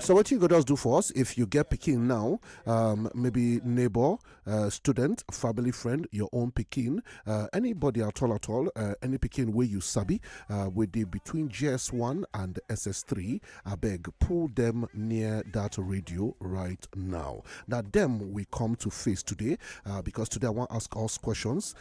So what you go just do for us if you get pikin now, um, maybe neighbor, uh, student, family friend, your own pikin, uh, anybody at all at all, uh, any pikin where you sabi, uh, with the between GS1 and SS3, I beg pull them near that radio right now. Now them we come to face today uh, because today I want to ask us questions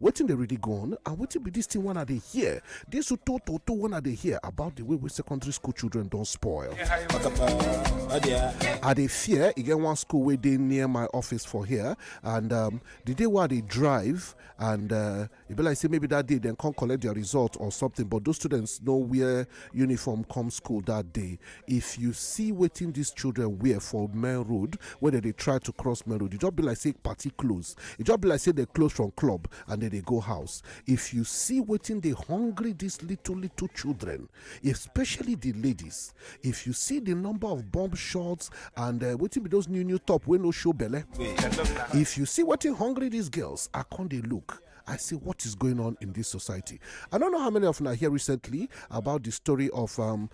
wetin dey really go on and wetin be dis thing wey i dey hear dis uto toto wey i dey hear about the way wey secondary school children don spoil i dey fear e get one school wey dey near my office for here and um, the day wey i dey drive and uh, e be like say maybe that day dem come collect their result or something but those students no wear uniform come school that day if you see wetin these children wear for main road wey dem dey try to cross main road e just be like say party close e just be like say dem close from club and dem dey go house if you see wetin dey hungry these little little children especially the ladies if you see the number of bomb shots and uh, wetin be those new new top wey no show belle if you see wetin hungry these girls i con dey look I say, what is going on in this society? I don't know how many of you are here recently about the story of um,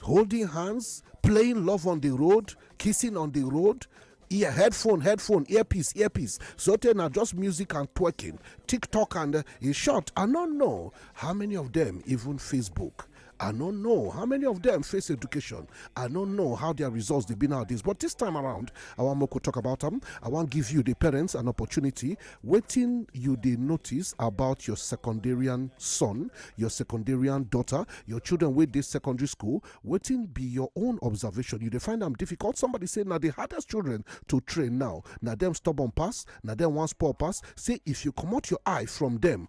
holding hands playing love on the road kissing on the road ear headphone headphone earpiece earpiece so tey na just music and twerking tiktok and uh, in short i no know how many of them even facebook I don't know how many of them face education. I don't know how their results they've been nowadays. But this time around, I want to talk about them. I want to give you the parents an opportunity Wetin you dey notice about your secondarian son, your secondarian daughter, your children wey dey secondary school? Wetin be your own observation? You dey find am difficult? Somebody say na the hardest children to train now. Na dem stubborn pass, na dem wan spoil pass. Say if you comot your eye from dem,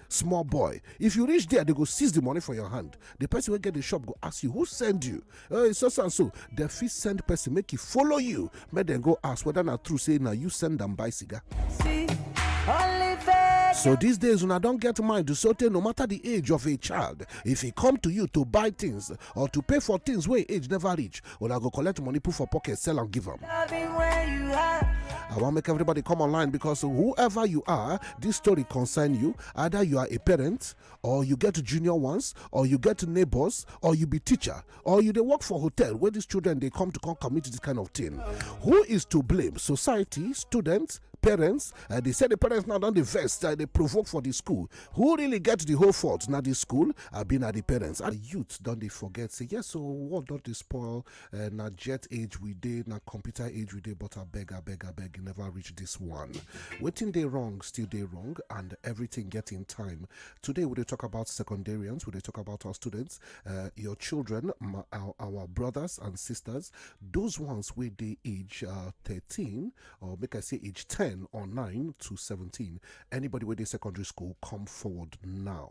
small boy if you reach there they go seize the money for your hand the person wey get the shop go ask you who send you oh it's so so and so dem fit send person make e follow you make dem go ask whether na true say na you send am buy cigar. See, only So these days, when I don't get mind to certain no matter the age of a child, if he come to you to buy things, or to pay for things wey age never reach una go collect money put for pocket sell am give am. I wan make everybody come online because whoever you are, this story concern you. Either you are a parent, or you get junior ones, or you get neighbors, or you be teacher, or you dey work for hotel where these children dey come to come commit this kind of thing. Who is to blame? Society, students, parents uh, they say the parents now don dey vex uh, they provoke for the school who really get the whole fault na the school abi na the parents and youth don dey forget say yes so world don dey spoil eh, na jet age we dey na computer age we dey but abeg abeg abeg e never reach this one wetin dey wrong still dey wrong and everything get im time today we dey talk about secondarians we dey talk about our students eh, your children our brothers and sisters those ones wey dey age uh, thirteen or make I say age 10 or 9 to 17. Anybody with a secondary school, come forward now.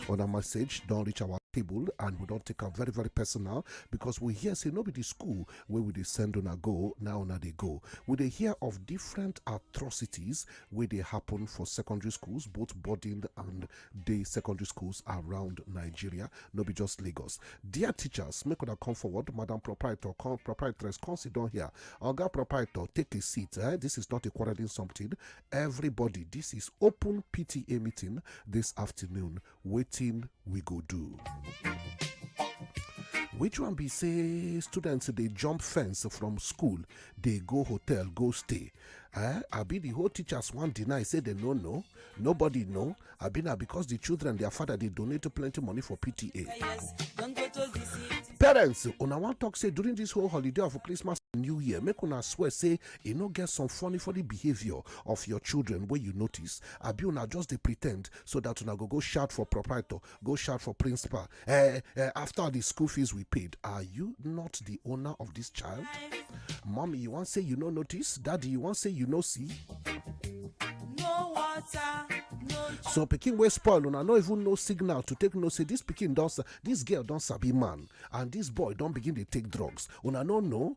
On a message, don't reach our table and we don't take am very very personal because we hear say no be the school where we dey send a go now na they go we dey hear of different atrocities where they happen for secondary schools both boarding and dey secondary schools around nigeria no be just lagos dear teachers make una come forward madam proprietor come proprietress come sit down here oga proprietor take a seat eh? this is not a quarreling something everybody this is open pta meeting this afternoon waiting we go do. which one be say students they jump fence from school they go hotel go stay eh i be the whole teachers wan deny say they no know nobody know i be na because the children their father dey donate plenty money for pta parents una wan talk say during this whole holiday of christmas and new year make una swear say e no get some funny funny behaviour of your children wey you notice abi una just dey pretend so that una go go shout for proprietor go shout for principal eh, eh, after the school fees we paid are you not the owner of this child mommy you wan say you no notice daddy you wan say you no see no water so pikin wey spoil una no even know signal to take know say this pikin don this girl don sabi man and this boy don begin dey take drugs una no know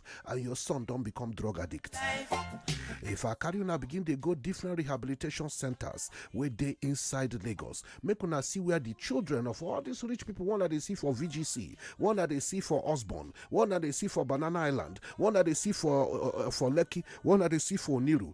and your son don become drug addict if i carry una begin dey go different rehabilitation centers wey dey inside lagos make una see where the children of all these rich people one dey see for vgc one dey see for osborn one dey see for banana island one dey see for uh, uh, for lekki one dey see for oniru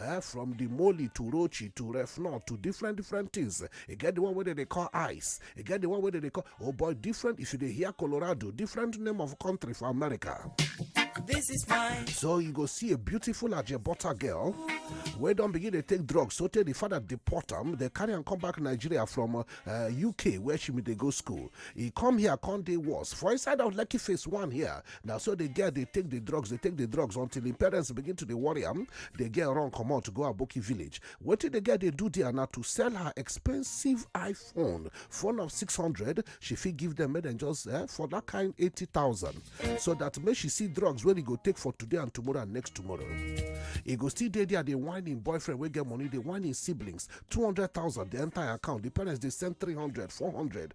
eh, from the moly to rochi to refnor to different different things e get the one wey dem dey call ice e get the one wey dem dey call oh boy different if you dey hear colorado different name of country for america This is mine. so you go see a beautiful ajebota girl wey don begin dey take drugs so tey the father deport am dey carry am come back nigeria from uh, uh, uk where she bin dey go school e come here come dey worse for inside of lekki phase one here na so the girl dey take the drugs dey take the drugs until im parents begin to dey worry am the girl run comot to go aboki village wetin the girl dey do there na to sell her expensive iphone phone of 600 she fit give them make dem just eh, for that kind 80000 so that make she see drugs wey e go take for today and tomorrow and next tomorrow e go still dey there dey whine im boyfriend wey get money dey whine im siblings 200000 dey enter im account the parents dey send 300 400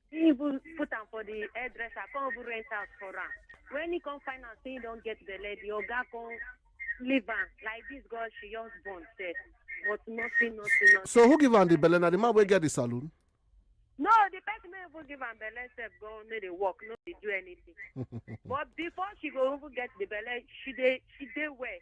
he even put am for the hairdresser come even rent house for am when he come find out say he don get belle the oga come leave am like this girl she just born sef but nothing nothing nothing. so who give am the belle na the man wey get the saloon. no the person wey even give am belle sef go no dey work no dey do anything but before she go even get the belle she dey she dey well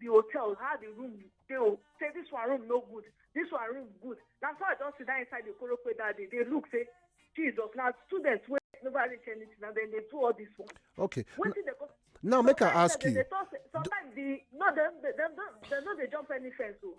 the hotel how the room dey o say this one room no good this one room good na so i just sit down inside the korope that day dey look say jesus na students wey never reach anything and then they do all this one. okay wetin dey go. now make i ask you. sometimes the no dem dem no dey jump any fence o. Oh.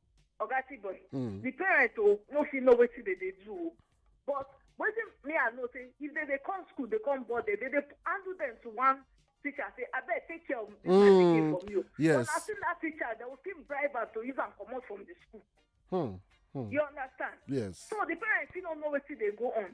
oga tibor Mm. the parent o no fit know wetin dem dey do o but wetin me i know say if dem dey come school dey come board dem dem dey handle dem to one teacher say abeg take care of this my Mm, pikin for me o yes. but as soon that teacher dem go still bribe am to use am comot from the school Hmm. Hmm. you understand Yes. so the parent fit no know wetin dey go on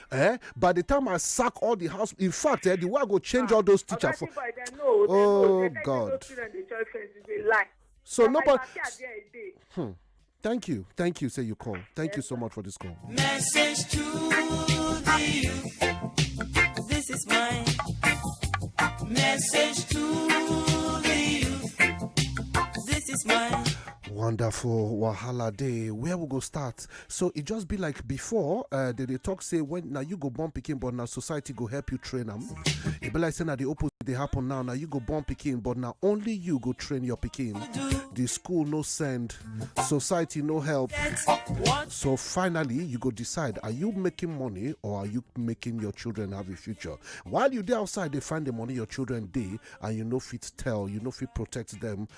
eh by the time i sack all the house in fact eh the way i go change ah, all those teachers for oh god so nobody hmm. thank you thank you say you call thank you so much for this call message to the youth this is my message to the youth this is my wonderful wahala day where we go start so e just be like before uh, they dey talk say when na you go born pikin but na society go help you train am e be like say na the opposite dey happen now na you go born pikin but na only you go train your pikin the school no send society no help so finally you go decide are you making money or are you making your children have a future while you dey outside dey find the money your children dey and you no fit tell you no fit protect them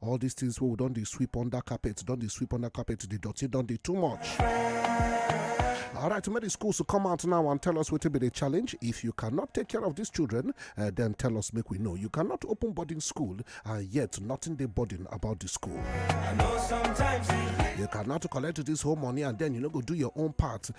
All these things wey we don dey sweep under carpet, don dey sweep under carpet, the dirty don dey too much. All right, make the schools to come out now and tell us what will be the challenge. If you cannot take care of these children, uh, then tell us, make we know. You cannot open boarding school and yet nothing they boarding about the school. You cannot collect this whole money and then you know go do your own part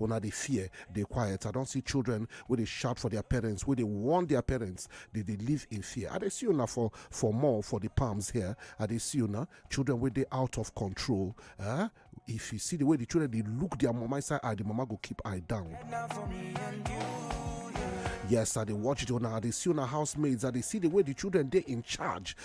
una dey fear dey quiet i don see children wey dey shout for their parents wey dey warn their parents dey dey live in fear i dey see una for for more for the palms here i dey see una children wey dey out of control eh? if you see the way the children dey look their mama inside eye the mama go keep eye down. Yes, I dey watch it on I dey see on housemaids, I dey see the way the children dey in charge.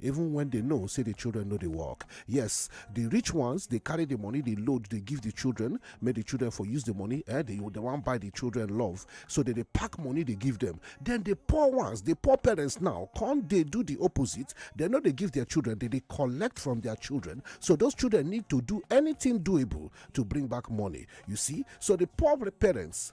even when they know say the children no dey work yes the rich ones dey carry the money dey load dey give the children make the children for use the money eh they dey wan buy the children love so they dey pack money dey give them then the poor ones the poor parents now come dey do the opposite they no dey give their children they dey collect from their children so those children need to do anything doable to bring back money you see so the poor parents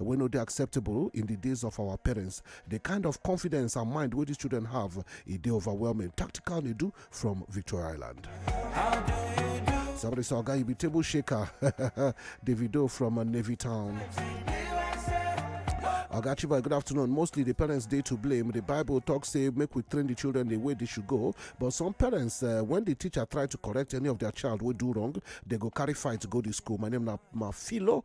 wey no dey acceptable in di days of our parents di kind of confidence and mind wey dis children have e dey overwhelming tactical nedu from victoria island somebody say oga you be table shaker davido from navy town oga chiba good afternoon mostly the parents dey to blame the bible talk say make we train the children the way they should go but some parents uh, when the teacher try to correct any of their child wey do wrong they go carry fight go the school my name na mafilo